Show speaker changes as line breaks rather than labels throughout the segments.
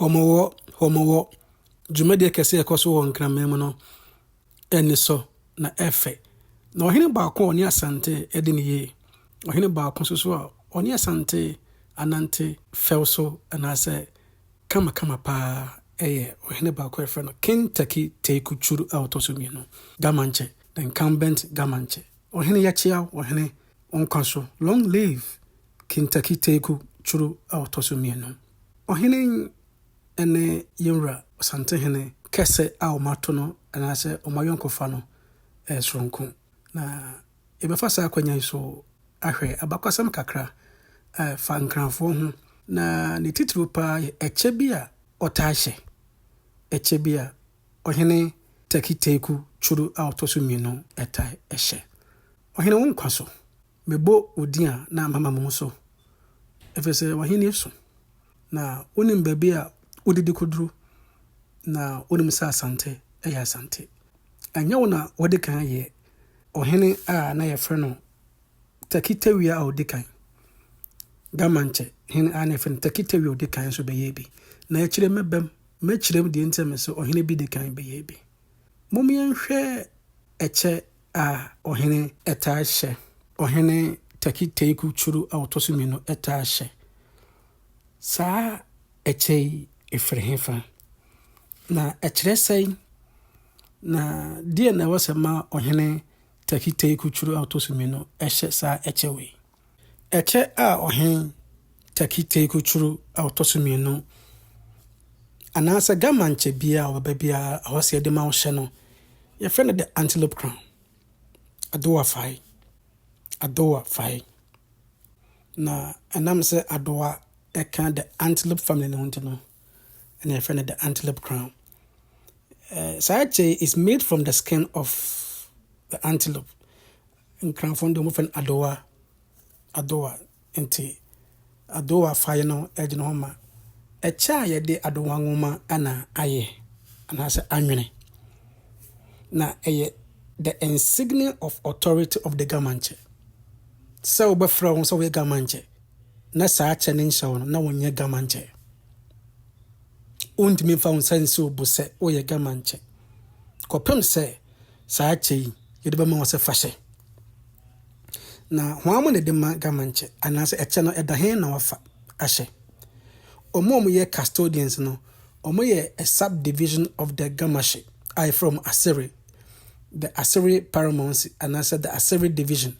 Hɔmmɔwɔ, hɔmmɔwɔ, dwumadie kɛse a ɛkɔ so wɔ Nkraman mu no ani sɔ na ɛfɛ. Na ɔhene baako a ɔne Asante adi no yie, ɔhene baako nso so a ɔne Asante anante fɛw so anaasɛ kamakama pa ara yɛ ɔhene baako a wɔfrɛ no King Taki Teku Churu a ɔtɔ so mmienu, Gamanche, the incumbent Gamanche. Ɔhene yɛkyeaw ɔhene, wo nkwa so, long live Kentucky Teeku Kyuru a ɔtɔ so mmienu. Ɔhene ne yɛn wura Ɔsantehene kɛse a wɔato no anaasɛ wɔn ayɔnkofa no yɛ soronko. Na yɛbɛfa saa akwanya yi so ahwɛ abakɔsɛm kakra a ɛfa Nkranfoɔ ho, na ne titiriw paa yɛ ɛkyɛ bi a ɔtaa hyɛ, ɛkyɛ bi a Ɔhene Turkey Teeku Kyuru a ɔtɔ so mmienu tae hyɛ. Ɔhene wo nkwa so, Mebɔ wo din a na mama mo ho so, ɛfiri sɛ w'ahennie so, na wonim baabi a wodidi kɔduru, na wonim sɛ asante yɛ asante. Ɛnyɛ wo na wadi kan yɛ ɔhene a na yɛfrɛ no Tɛki Tawia a ɔdi kan, Gamankyɛ hene a na yɛfrɛ no Tɛki Tawia a ɔdi kan nso bɛyɛɛ bi, na akyire mɛbam mɛkyerɛ mu deɛ nti a mese ɔhene bi di kan bɛyɛɛ bi. Mom yɛnhwɛ ɛkyɛ a ɔhene taa hyɛ, ɔhene Teki Teku Churu a ɔtɔ so mmienu taa hyɛ. Saa ɛkyɛ yi firi hefa, na ɛkyerɛ sɛn, na deɛ na ɛwɔ sɛ ma ɔhene Teki Teku Churu a ɔtɔ so mmienu hyɛ saa ɛkyɛ wei? Ɛkyɛ a ɔhen Turkey teikutsur a ɔtɔ so mienu anaasɛ German kyɛ biara a ɔbɛba biara a ɔwɔ sɛ yɛdze ma wo hyɛ no, yɛfrɛ no the antelope crown, adowa fae, adowa fae. Na ɛnam sɛ adowa ɛka the antelope family no ho nti no, ɛna yɛfrɛ no the antelope crown. Eh, saa kyɛ yi is made from the skin of the antelope. Nkranfoɔ no deɛ wɔfrɛ no Adowa, Adowa, nti Adowa faeɛ no gyina hɔ ma ɛkyɛ a yɛde Adowa nwoma na ayɛ anaasɛ anwene. Na ɛyɛ the insignia of authority of the Gamankyɛ. Sɛ wobɛfrɛ wo sɛ woyɛ Gamankyɛ na saa kyɛ no nhyɛ wo no, na wonyɛ Gamankyɛ. Wontumi mfa wo nsa nsi wo bo sɛ woyɛ Gamankyɛ. Kɔpem sɛ saa kyɛ yi yɛde bɛma wo sɛ fa hyɛ. Na hwan mo na ɛde ma government kyɛ anaasɛ ɛkyɛ no ɛda hen na wafa ahyɛ? Wɔn a wɔyɛ custodians no, wɔyɛ a subdivision of the Gamashi a yɛfrɛ wɔn Asere, the Asere paramountcy anaasɛ the Asere division.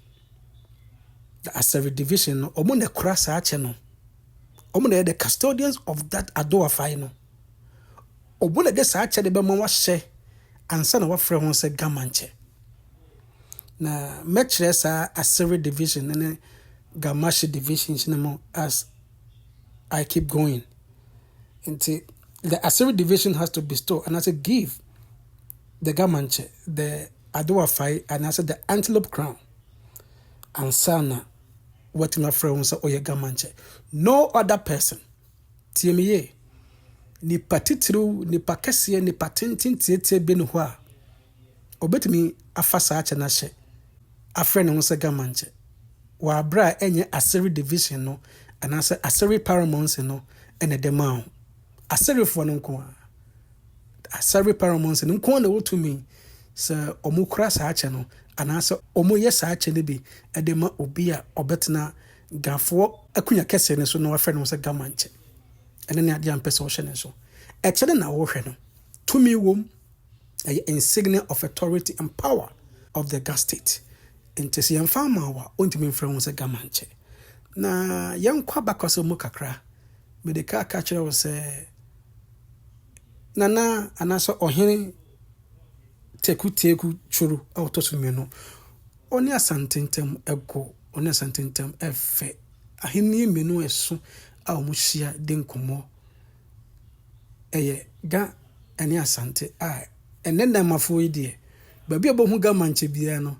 The Asere division no, wɔn na ɛkora saa kyɛ no. Wɔn na ɛyɛ the custodians of that Adoafai no. Obu na ɛde saa akyɛde no bɛma wahyɛ ansa na wɔafrɛ ho sɛ Gamankyɛ. Na mɛkyerɛ saa Asere division no ne Gamashi divisions no mu as I keep going. Nti, the Asere division has to bestow anaasɛ give the Gamankyɛ the Adowafae anaasɛ the antelope crown ansa na wɔatumi afrɛ ho sɛ ɔyɛ Gamankyɛ. No other person. Tie me yie. Nipa titiriw, nipa kɛseɛ, nipa tenten tiatia bi ne hɔ a, ɔbɛtumi afa saa kyɛ no ahyɛ, afrɛ ne ho sɛ Gamankyɛ. Wɔ aberɛ a ɛnyɛ Aseri division no anaasɛ Aseri paramountcy no na ɛde maa wo. Aserifoɔ no nko ara, Aseri paramountcy no nko ara na ɛwɔ tumi sɛ wɔkura saa kyɛ no anaasɛ wɔyɛ saa kyɛ no bi de ma obi a ɔbɛtena Gafoɔ akunya kɛseɛ no so na wɔafrɛ ne ho sɛ Gamankyɛ. Ɛno ne adeɛ a mpɛ sɛ wohyɛ ne nso. Ɛkyɛ no na worehwɛ no. Tumi wom. Ɛyɛ insignia of authority and power of the Ga State. Nti sɛ yɛmfa mma wo a, wontumi mfrɛ wo ho sɛ Gamankyɛ. Na yɛnkɔ abakɔsɛm mu kakra. Mede ka ka kyerɛ wo sɛ Nana anaasɛ Ɔhene Teku Teagu Tworo a ɔtɔ so mmienu, ɔne Asante ntam ɛgo. Wɔne Asante ntam fɛ. Ahenni mmienu a ɛso a wɔhyia di nkɔmmɔ. Ɛyɛ Ga ne Asante a ɛnnɛ Namafoɔ yi deɛ, baabi a wɔbɛhu Ga Mankyɛ biara no,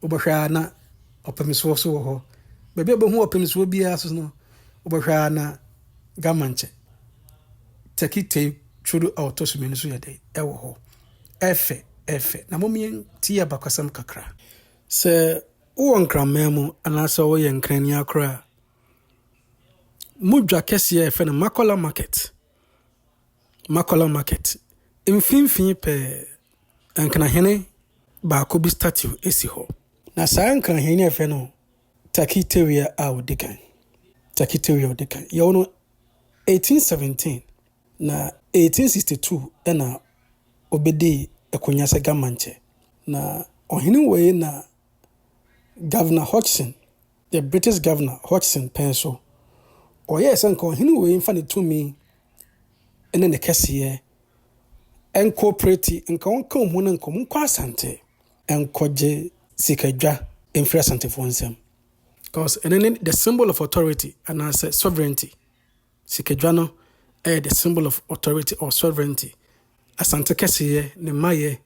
wobɛhwɛ ara na Ɔpemsoɔ so wɔ hɔ. Baabi a wɔbɛhu Ɔpemsoɔ biara so no, wobɛhwɛ ara na Ga Mankyɛ, Turkey Tail Twodo a ɔtɔ so mmienu so yɛ dɛ ɛwɔ hɔ. Ɛfɛ, ɛfɛ. Na mommeɛ ntie abakɔsɛm kakra. Sɛ wowɔ Nkraman mu anaasɛ woyɛ Nkrani akora a, mo dwa kɛseɛ a yɛfrɛ no Makola Market, Makola Market, mfimfini pɛɛ, Nkrahene baako bi statue si hɔ. Na saa Nkrahene no yɛfrɛ no Turkey Terrier a ɔdi kan, Turkey Terrier a ɔdi kan. Yɛwɔ no 1817. Na 1862 na obedii akonnwa sɛ Gamankyɛ. Na ɔhene wei na Governor Hodgson, the British Governor Hodgson pɛn so. Ɔyɛɛ sɛ nka ɔhene wei mfa ne tumi ne ne kɛseyɛ nkoopreti, nka ɔnka wɔn ho no nkɔ, monkɔ Asante nkɔgye sikadwa mfiri Asantefoɔ nsam. Because ɛno ne the symbol of authority anaasɛ sovereignty. Sikadwa no yɛ the symbol of authority or sovereignty, Asante kɛseyɛ, ne mmayɛ,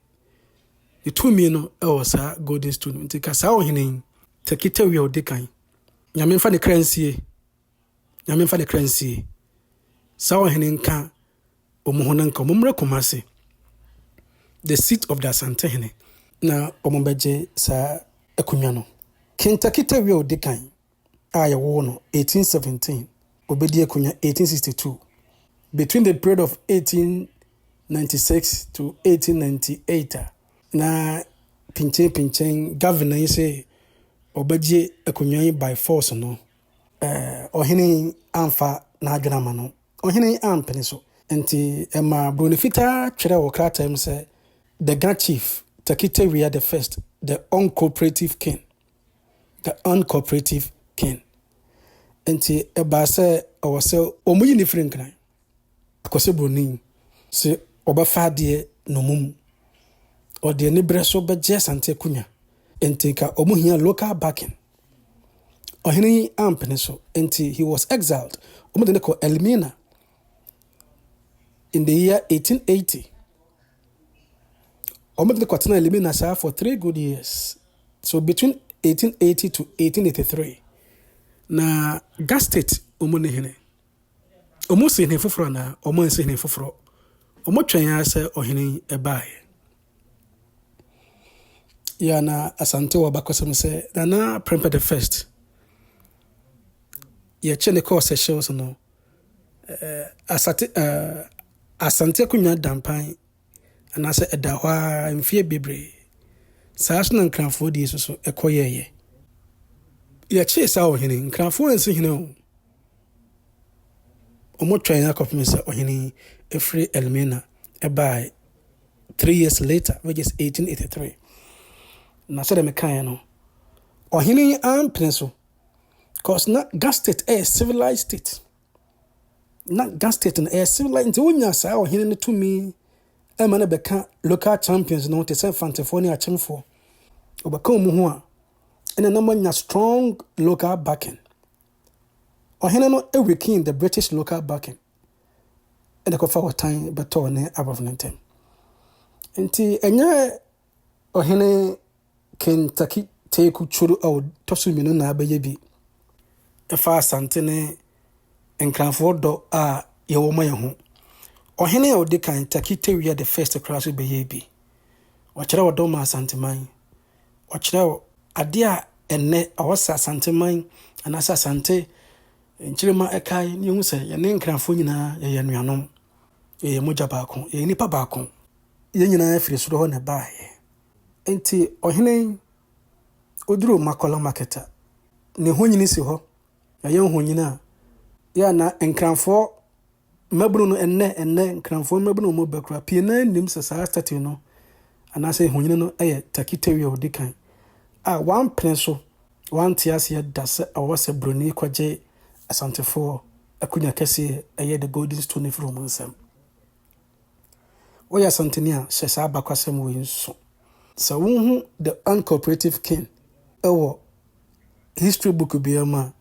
ne tumi no wɔ saa golden stool no. Nti ka saa ɔhene yi, Tekitewia odi kan, Nyame mfa ne kra nsie, Nyame mfa ne kra nsie, saa ɔhene nka wɔn ho na nka wɔn mmra Kumasi, the seat of the Asante hene, na wɔn bɛgye saa akonnwa no, King Tekitewia odi kan, a yɛwoo no 1817 obedi akonya 1862 between the period of 1896 to 1898 a na pinkyen pinkyen governor yi se ɔbɛgye akonya yi by force no ɔhene yi amfa n'adwene ama no ɔhene yi ampene so nti ɛma buroni fitaa twerɛ wɔ krataa mu sɛ the ga chief takitawia the first the uncooperative king The uncooperative king. Enti ɛbaa sɛ ɛwɔ sɛ wɔyi ne firi nkran. Akɔsɛ buroni sɛ ɔbɛfa adeɛ nnommum. Ɔde aniberɛ so bɛgye Asante akonnwa. Enti nka wɔhia local backing. Ɔhene yi ampene so. Enti he was exiled. Wɔde no kɔ Elmina in the year 1880. Wɔn de no kɔtenaa Limina saa for three good years, so between 1880 to 1883. Na Ga State wɔn ne hene. Wɔn si hene foforɔ anaa? Wɔn ansi hene foforɔ. Wɔn twɛn ara sɛ ɔhene yi ɛbaeɛ. Yɛ na Asante wɔ bakɔsɛm sɛ Nana Prempeh the first. Yɛkye ne kɔɔ Seychelles no. Asate eh, Asante akonnwa da mpan anaasɛ ɛda hɔ ara mfeɛ bebree. Saa so na Nkrafoɔ die so so ɛkɔ yɛɛyɛ. Yɛkyee saa ɔhene, Nkrafoɔ ansi hene o. Wɔn twɛn akɔpem sɛ ɔhene yi ɛfiri Elmina ɛbaa three years later which is 1883. Na sɛdeɛ mekaeɛ no, ɔhene yi ampene so cause na Gas state yɛ civilized state. Na Gas state no ɛyɛ civilized nti wonya saa ɔhene no tumi ɛma no bɛka local champions no te sɛ fantefoɔ ne akyemfoɔ. Ɔbɛka wɔn ho a ɛna na moanya strong local backing. Ɔhene no weaken the British local backing ɛna kɔfa ɔtan bɛtɔɔ ne Arab no ntɛm. Nti ɛnyɛ Ɔhene Kentucky Teeku Coro a ɔtɔ so mmienu na abɛyɛ bi fa Asante ne Nkranfoɔ dɔ a yɛwɔ ma yɛn ho. Ɔhene a ɔdi kan, Turkey Tewia the First koraa nso bɛyɛɛ bi. Ɔkyerɛɛ ɔdɔ maa Asanteman. Ɔkyerɛɛ adeɛ a ɛnnɛ ɔwɔ sɛ Asanteman anaasɛ Asante nkyirima ɛkae na yɛhu sɛ yɛne Nkranfoɔ nyinaa yɛyɛ anuanom, yɛyɛ mogya baako, yɛyɛ nnipa baako. Yɛn nyinaa firi soro hɔ na ɛbaeɛ. Enti ɔhene yi, ɔduruu Makɔla Market a, ne honini si hɔ. Yɛayɛ honini a, yɛ a na Nkranfoɔ mmabunu no, ɛnnɛ, ɛnnɛ, Nkranfoɔ mmabunu a wɔba koraa, pii no ara nnim sɛ saa statue no anaasɛ honini no yɛ Takitawi a ɔdi kan a wampene so, wante aseɛ da sɛ ɛwɔ sɛ Buroni kɔgye Asantefoɔ akonya kɛseɛ, ɛyɛ The Golden Stone firi wɔn nsam. Woyɛ Asanteni a, hyɛ saa abakwasɛm wei nso. Sɛ wohu the uncooperative king wɔ history book biara mu a,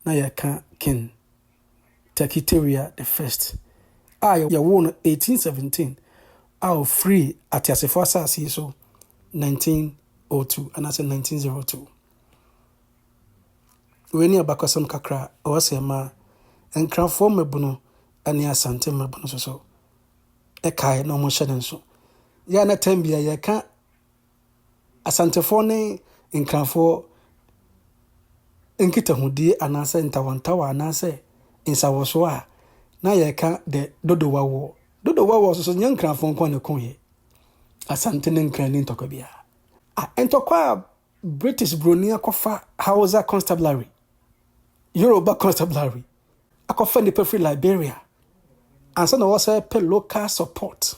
na yɛka King Takiteria the First a yɛwoo no 1817 a ɔfirii ateasefoɔ asase yi so 1902 anaasɛ 1902. Wei ne abakwasɛm kakra a ɔwɔ sɛ ɛma Nkrafoɔ mmabunu ne Asante mmabunu nso so kae na wɔhyɛ no nso. Yɛ a na tɛm bia yɛka Asantefoɔ ne Nkrafoɔ nkitahodie anaasɛ ntawantawa anaasɛ nsawɔsoɔ a na yɛka dɛ dodowawoɔ. Dodowawoɔ nso so nyɛ Nkrafoɔ nko na ɛko yɛ. Asante ne Nkran ni ntɔkwa biara. A ntɔkwa a British Broni akɔfa Hausa Constabulary, Yoruba Constabulary, akɔfa nnipa firi Liberia ansa na wɔsɛ pɛ local support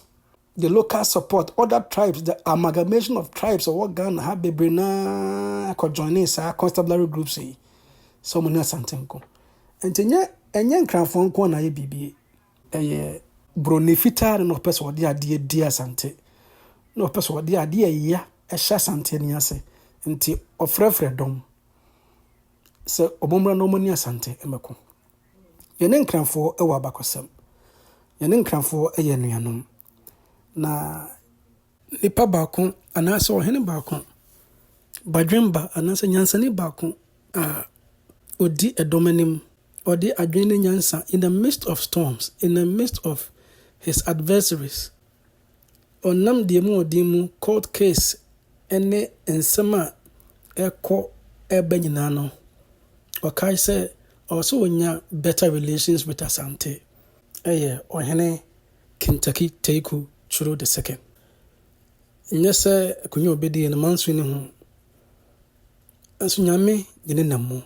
the local support other tribes the amalgamation of tribes ɔwɔ Ghana ha bebree naa kɔ joining saa constabulary groups yi sɛ wɔn ne Asantenko nti nyɛ ɛnyɛ nkranfoɔ nko na ayɛ biribi ɛyɛ broni fitaa no na ɔpɛ sɛ ɔde adeɛ di Asante na ɔpɛ sɛ ɔde adeɛ ɛya ɛhyɛ Asante ni ase nti ɔfrɛfrɛ dɔm. sɛ wɔmmra na wɔne Asante mmɛko. Yɛne Nkrafoɔ wɔ abakɔsɛm. Yɛne Nkrafoɔ yɛ anuanom. Na nipa baako anaasɛ ɔhene baako, badwemba anaasɛ nyansani baako a ɔdi ɛdɔm anim, ɔde adwene ne nyansa in the midst of storms, in the midst of his adversaries, Ɔnam deɛ mu ɔden mu court case ne nsɛm a ɛkɔ ɛba nyinaa no, ɔkae sɛ ɔwɔ sɛ ɔnya better relations with Asante, ɛyɛ Ɔhene Kinntaki Teku Curo the Second. Nyɛ sɛ akonnwa a ɔbɛdie no manso ne ho, nanso Nyame de ne nam mu,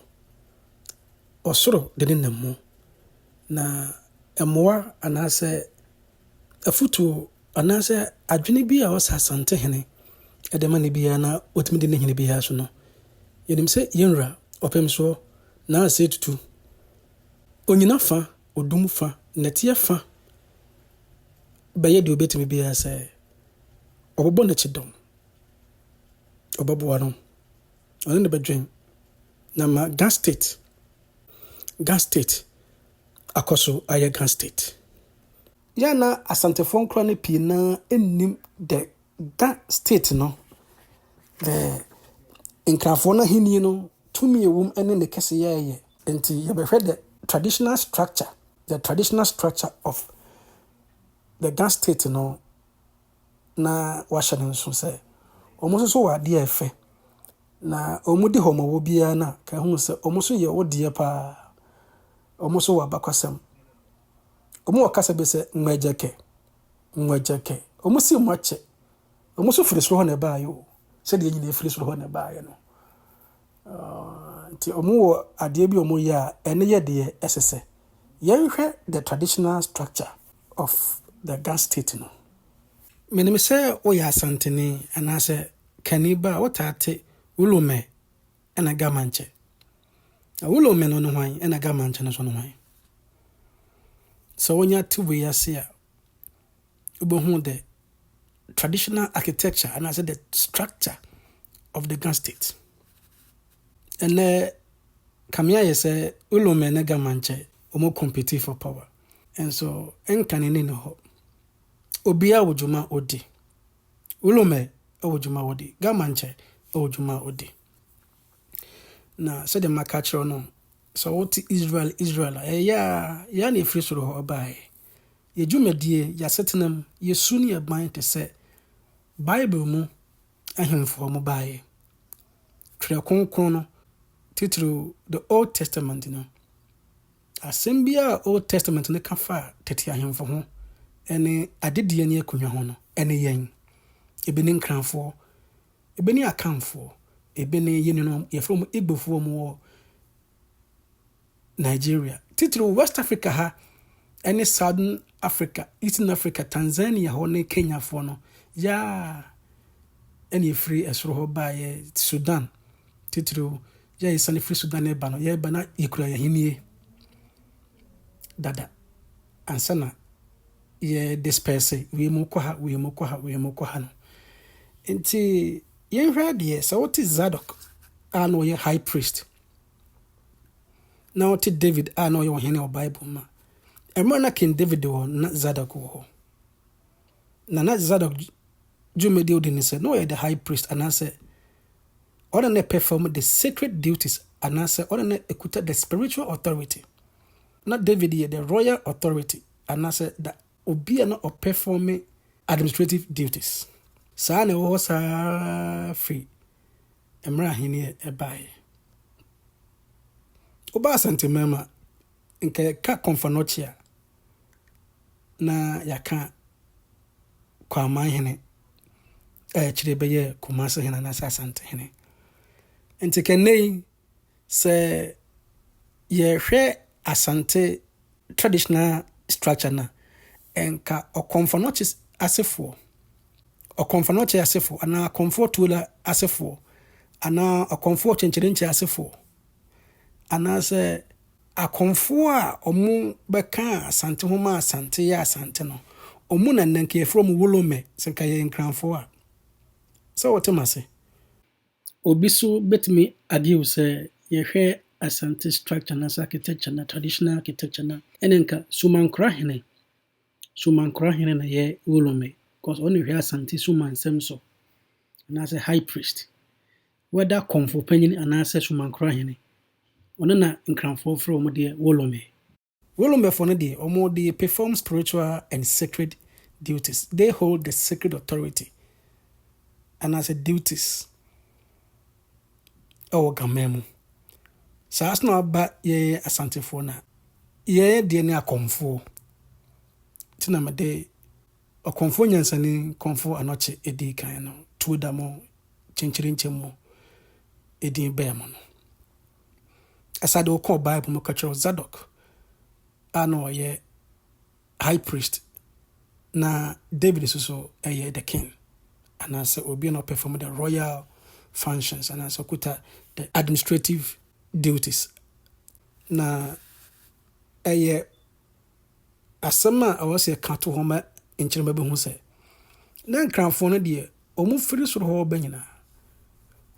ɔsoro de ne nam mu, na mmoa anaasɛ afotuo anaasɛ adwene bi a ɔsɛ Asantehene de ma no biara na ɔtumi di ne hene biara so no, yɛnim sɛ yɛn Wura Ɔpemsoɔ Nana Sey Tutu, ɔnyina fa, ɔdum fa, nnɛteɛ fa bɛyɛ deɛ ɔbɛtumi biara sɛ ɔbɛbɔ no kyidɔm, ɔbɛboa no, ɔne no bɛdwen na ama Ga State, Ga State akɔ so ayɛ Ga State. Yɛ a na Asantefoɔ nkora no pii no ara nnim dɛ Ga State no, eh, Nkrafoɔ no ahennie no tumi a ɛwom ne ne kɛseyɛ yɛ. Enti yɛbɛhwɛ the traditional structure, the traditional structure of the Ga State no na wɔahyɛ no nso sɛ wɔn nso so wɔ adeɛ a ɛfɛ Na wɔn de hɔ ma wɔ biara no a, ka hunu sɛ wɔn nso yɛ wo deɛ paa. Wɔn nso wɔ abakwasɛm. Wɔn wɔ kasa bi sɛ Nwɛgyɛkɛ, Nwɛgyɛkɛ. Wɔn se Mwakyɛ. Wɔn nso firi soro hɔ na ɛbaeɛ o. Sɛdeɛ yɛn nyinaa firi soro hɔ na ɛbaeɛ no. Nti wɔn wɔ adeɛ bi a wɔn yɛ a, ɛno yɛ deɛ ɛsɛ sɛ. Yɛnhwɛ the traditional structure of the Ga state no. Menim sɛ woyɛ Asanteni anaasɛ Kani ba a wotaa te Wulome ɛna Gamankyɛ. Na Wulome no ne hwan ɛna Gamankyɛ no nso ne hwan? Sɛ wonya te wei ase a, wobɛhu the traditional architecture anaasɛ the structure of the Ga state. Ɛnɛ kame ayɛ sɛ Wulome ne Gamankyɛ wɔn compete for power. Nso Nkane ni ne hɔ. Obiara wɔ dwuma a odi. Wilomɛ wɔ dwuma ɔdi, Gamankyɛ wɔ dwuma ɔdi. Na sɛdeɛ maka akyerɛ wo no, sɛ wote Israel Israel a, ɛyɛ a yɛa na ɛfiri soro hɔ ɔbaeɛ. Yɛ dwumadie, yɛ asetenam, yɛ su ne yɛ ban te sɛ Bible mu ahemfoɔ mo baeɛ. Twerɛ Kronkron no, titiriw The Old Testament no, Asɛm bi a Old Testament no ka fa tete ahemfo ho ne adedie ne akonnwa ho no, ɛne yɛn. Ebi ne Nkranfoɔ, ebi ne Akanfoɔ, ebi ne yɛn nuanom a yɛfrɛ wɔn Igbofoɔ a wɔwɔ Nigeria, titiriw West Africa ha ne Southern Africa, Eastern Africa, Tanzania hɔ ne Kenyafoɔ no. Yaa ɛne ɛfiri ɛsoro hɔ baeɛ Sudan titiriw. Yɛresiane firi Sudan reba no, yɛreba na yɛkura yɛn ahennie dada ansa na yɛdespɛɛse wei mu kɔ ha, wei mu kɔ ha, wei mu kɔ ha no. Nti yɛnhwɛ adeɛ, sɛ wote Zadok a na ɔyɛ high priest na ɔte David a na ɔyɛ ɔhene wɔ Bible mu a, mmerɛ na King David wɔ na Zadok wɔ hɔ. Na na Zadok dwumadi odi ne sɛ na ɔyɛ the high priest anaasɛ Ɔna na perform the sacred duties anaasɛ ɔna na ɛkuta the spiritual authority. Na David yɛ the royal authority anaasɛ the obi a na ɔperforme administrative duties. Saa na ɛwɔ hɔ saa ara firi mmerɛ ahennie baeɛ. Woba Asante Mmarima Nka yɛka Kɔmfɔnɔkye a, na yɛaka Kwaman hene a akyire bɛyɛɛ Kumasi hene anaasɛ Asante hene. Nti ka nnɛ yi sɛ yɛhwɛ Asante traditional structure no a, nka Ɔkɔmfɔnɔkye asefoɔ, Ɔkɔmfɔnɔkye asefoɔ anaa Akɔmfoɔ Tuola asefoɔ anaa Ɔkɔmfoɔ Kyenkyerenkye asefoɔ anaasɛ Akonfoɔ a wɔbɛkaa Asante ho maa Asante yɛɛ Asante no, wɔn na nnɛ nka yɛfrɛ wɔn Wolomɛ, sɛ nka yɛyɛ Nkranfoɔ a. Sɛ wote m'ase? Obi nso bɛtumi argue sɛ yɛhwɛ Asante structure anaasɛ architecture no a, traditional architecture no a, ɛnna nka Sumankora hene, Sumankora hene na ɛyɛ Wolomɛ, because ɔno na ɔhwɛ Asante Suma nsɛm so, anaasɛ High Priest. Wɛda kɔmfo panyin anaasɛ Somankrɔ hene, ɔno na Nkranfoɔ frɛ wɔn deɛ Wolomɛ. Wolomɛfoɔ no deɛ, wɔn de perform spiritual and sacred duties, they hold the sacred authority anaasɛ duties wɔ Gamɛ mu. Saa nso na aba yɛn Asantefoɔ no a, yɛn deɛ ne akɔmfoɔ, nti na mede Ɔkɔmfo nyansani kɔmfo anɔkye edi kan no tuo da mo kyenkyerenkyem mu edin bɛɛ mo no. Ɛsa de wokɔɔ Bible mu kɔkyerɛw Zadok a na ɔyɛ high priest na David nso so ɛyɛ the king anaasɛ obi na ɔpɛ fam the royal functions anaasɛ ɔkuta the administrative duties na ɛyɛ asɛm a ɛwɔ sɛ yɛka to hɔ ma nkyerɛma bi ho sɛ, Na Nkranfoɔ no deɛ, wɔfiri soro hɔ reba nyinaa,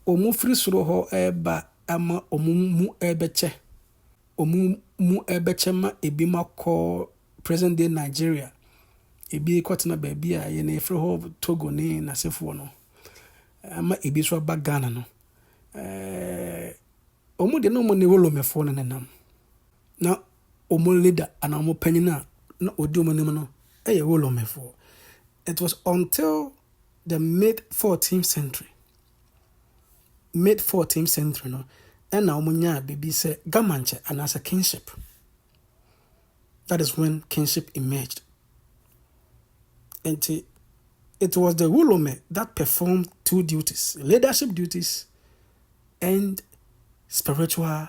wɔfiri soro hɔ reba ma wɔn mu rebɛkyɛ, wɔn mu rebɛkyɛ ma ebinom akɔ present day Nigeria, ebi rekɔtena baabi a yɛn yɛfrɛ hɔ Togo ne n'asefoɔ no, ama ebi nso aba Ghana no. Ɛɛ wɔn deɛ na wɔn ne Wolomefoɔ no nenam. na wɔn leader anaa wɔn panyin a na odi wɔn anim no yɛ Romanfoɔ. It was until the mid 14th century, mid 14th century no, ɛna wɔn nyaa biribi sɛ Gamankyɛ anaasɛ kingship. That is when kingship emerged. Nti, it was the Rolome that performed two duties, leadership duties and spiritual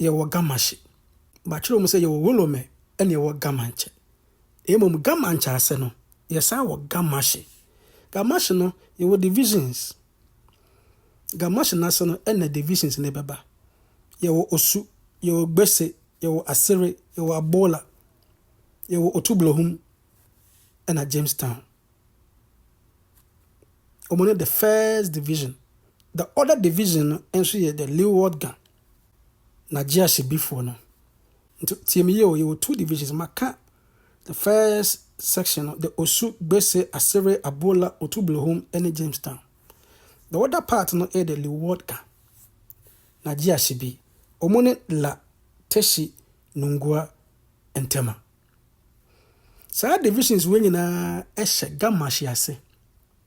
Yɛwɔ Gamashe. Wɔakyerɛw mu sɛ yɛwɔ Wolome na yɛwɔ Gamanche. Mmom Gamanche ase no, yɛsan wɔ Gamashe. Gamashe no, yɛwɔ divisions. Gamashe no ase no na divisions no bɛba. Yɛwɔ Osu, yɛwɔ Gbese, yɛwɔ Asere, yɛwɔ Abola, yɛwɔ Otublohum na Jamestown. Wɔn ne the first division. The other division no nso yɛ the Leeward Gan. Na gye ahyɛbifoɔ no. Nti tie me yie o, yɛwɔ two divisions, maka the first section no, the Osu, Gbese, Asere, Abola, Otublehum ne Jamestown. The other part no yɛ the Lewodka, na gye ahyɛbi. Wɔn ne La, Teshi, Nungua, Ntema. Saa divisions wei nyinaa hyɛ Gamashi ase.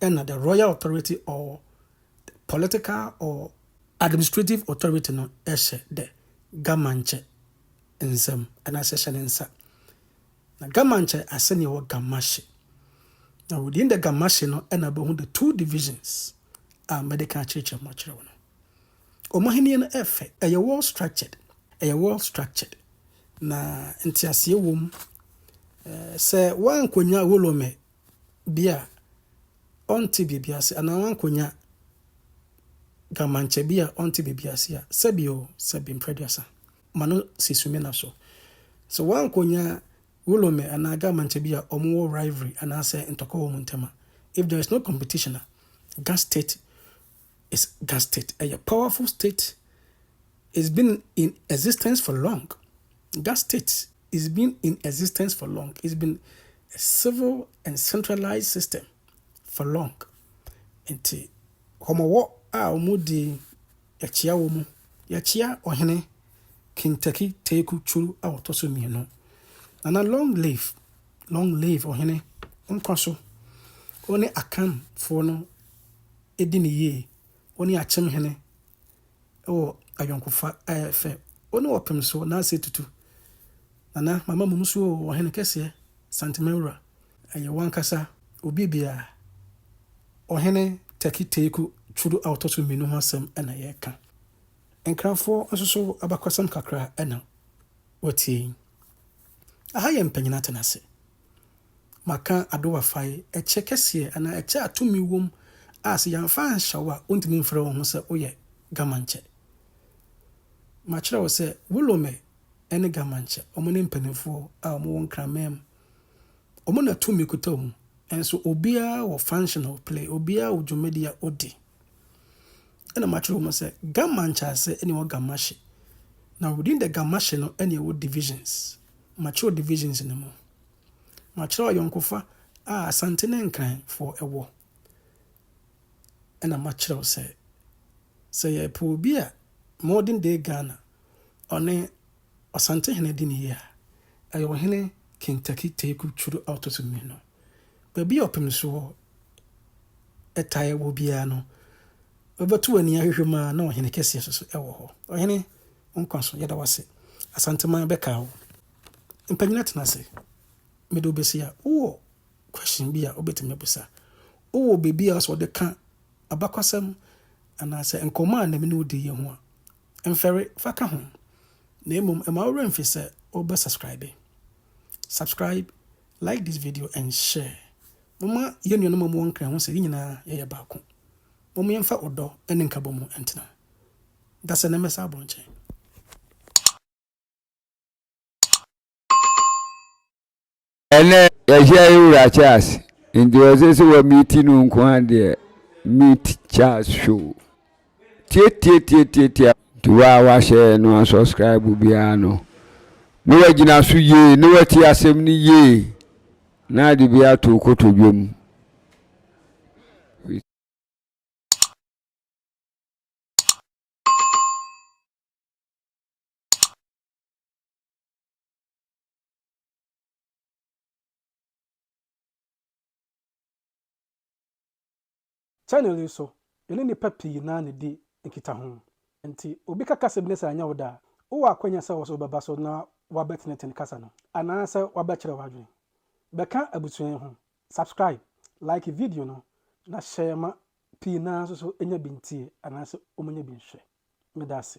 ɛna the royal authority or the political or administrative authority no hyɛ the gamankyɛ nsam anaasɛ hyɛ ne nsa. Na gamankyɛ ase ne ɛwɔ gamashe. Na within the gamashe no ɛna bɛhu the two divisions a mɛde ka akyerɛkyerɛ mu akyerɛ wo no. Wɔn ahenni no ɛfɛ, ɛyɛ well structured, ɛyɛ well structured na nteaseɛ wom. Sɛ woankɔnya Wolome bi a ɔnte biribi ase anaa wankonya kamankyɛ bi a ɔnte biribi ase a, sɛbi o, sɛbi mpra aduasa, ma no si sumina so. Sɛ wankonya Wulome anaa kamankyɛ bi a wɔwɔ rivalry anaasɛ ntɔkwa wɔ wɔn ntam a, if there is no competition a, Gas State is Gas State. Ɛyɛ powerful state. It's been in existence for long. Gas State is been in existence for long. It's been a civil and centralized system for long. Nti, wɔwɔ a wɔdi yɛkyea wɔ mu. Yɛkyea ɔhene Kintaki Teku Churu a ɔtɔ so mmienu. Nana long live, long live ɔhene nkwa so. Wo ne Akanfoɔ no di no yie, wo ne akyem hene wɔ ayɔnkofa a ɛyɛ fɛ, wo ne ɔpem so na ase tutu. Nana, mama mum so oo, ɔhene kɛseɛ, Santemawura. Ɛyɛ wo ankasa, obi biara. Ɔhene Tɛki Teeku Twudu a ɔtɔ so mmienu ho asɛm na yɛreka. Nkranfoɔ nso so abakɔsɛm kakra na wɔatie yi. Aha yɛ mpanyin atenase. Maka adowafae, ɛkyɛ kɛseɛ anaa ɛkyɛ a tumi wom a sɛ yɛamfa anhyɛ wo a wontumi mfrɛ wo ho sɛ woyɛ Gamankyɛ. Makyerɛ wo sɛ Wolome ne Gamankyɛ, wɔn ne mpanimfoɔ a wɔn wɔ Nkraman mu. Wɔn na tumi kuta wɔn mu. Nso obiara wɔ function a ɔplay, obiara wɔ dwumadi a odi. Ɛna makyerɛ wɔn sɛ Gamankyɛ ase ne wɔ Gamahye. Na within the Gamahye no ɛna ɛwɔ divisions. mature divisions no mu. Makyerɛ ayɔnkofa a Asante ne Nkran foɔ wɔ. Ɛna makyerɛw sɛ, sɛ yɛpɛ obi a modern day Ghana ɔne Ɔsantehene di no yie a, ɛyɛ Ɔhene Kinntaki Teku Turo Auto Sumino. Baabi a ɔpem soɔ tae wɔ biara no, wobɛto w'ani ahwehwɛ mu a na ɔhene kɛseɛ nso so wɔ hɔ. Ɔhene, wo nkwa so, yɛda wo ase. Asanteman bɛkaa wo. Mpanyina tena ase. Mede wo bɛsi a, wowɔ question bi a wobɛtumi abusa? Wowɔ biribi a wɔ sɛ wɔde ka abakɔsɛm anaasɛ nkɔmmɔ a na me ne wo diiɛ ho a, mfɛre fa ka ho. Na mmom, mma wo werɛ mfi sɛ wobɛsubscribe. Subscribe Like this video and share Momma yɛn nuanom a wɔwɔ Nkran ho sɛ yɛn nyinaa yɛyɛ baako. Momma yɛmfa ɔdɔ ne nkabɔ mu ntena. Dasɛ na mmɛsa abɔ nkyɛn.
Ɛnɛ yɛhyɛ yɛ wura Charles nti ɔsɛ sɛ wɔmiiti no nko ara deɛ meet Charles show. Tiatiatiatiatia nti wo a woahyɛ no unsubscribe biara no na woagyina so yie na woatie asɛm no yie na de bi ato wo kotodwe mu.
Channel yi so, yɛne nnipa pii na di nkitaho. Enti obi ka kasa bi na sɛ anyɛ wo dɛ a, wowɔ akwanya sɛ wo nso wobɛba so na woabɛtenetene kasa no, anaasɛ woabɛkyerɛ w'adwene. Bɛka abusua yi ho, subscribe, like video no, na share ma pii no ara nso so nya bi ntie anaasɛ wɔnyɛ bi nhwɛ. Meda ase.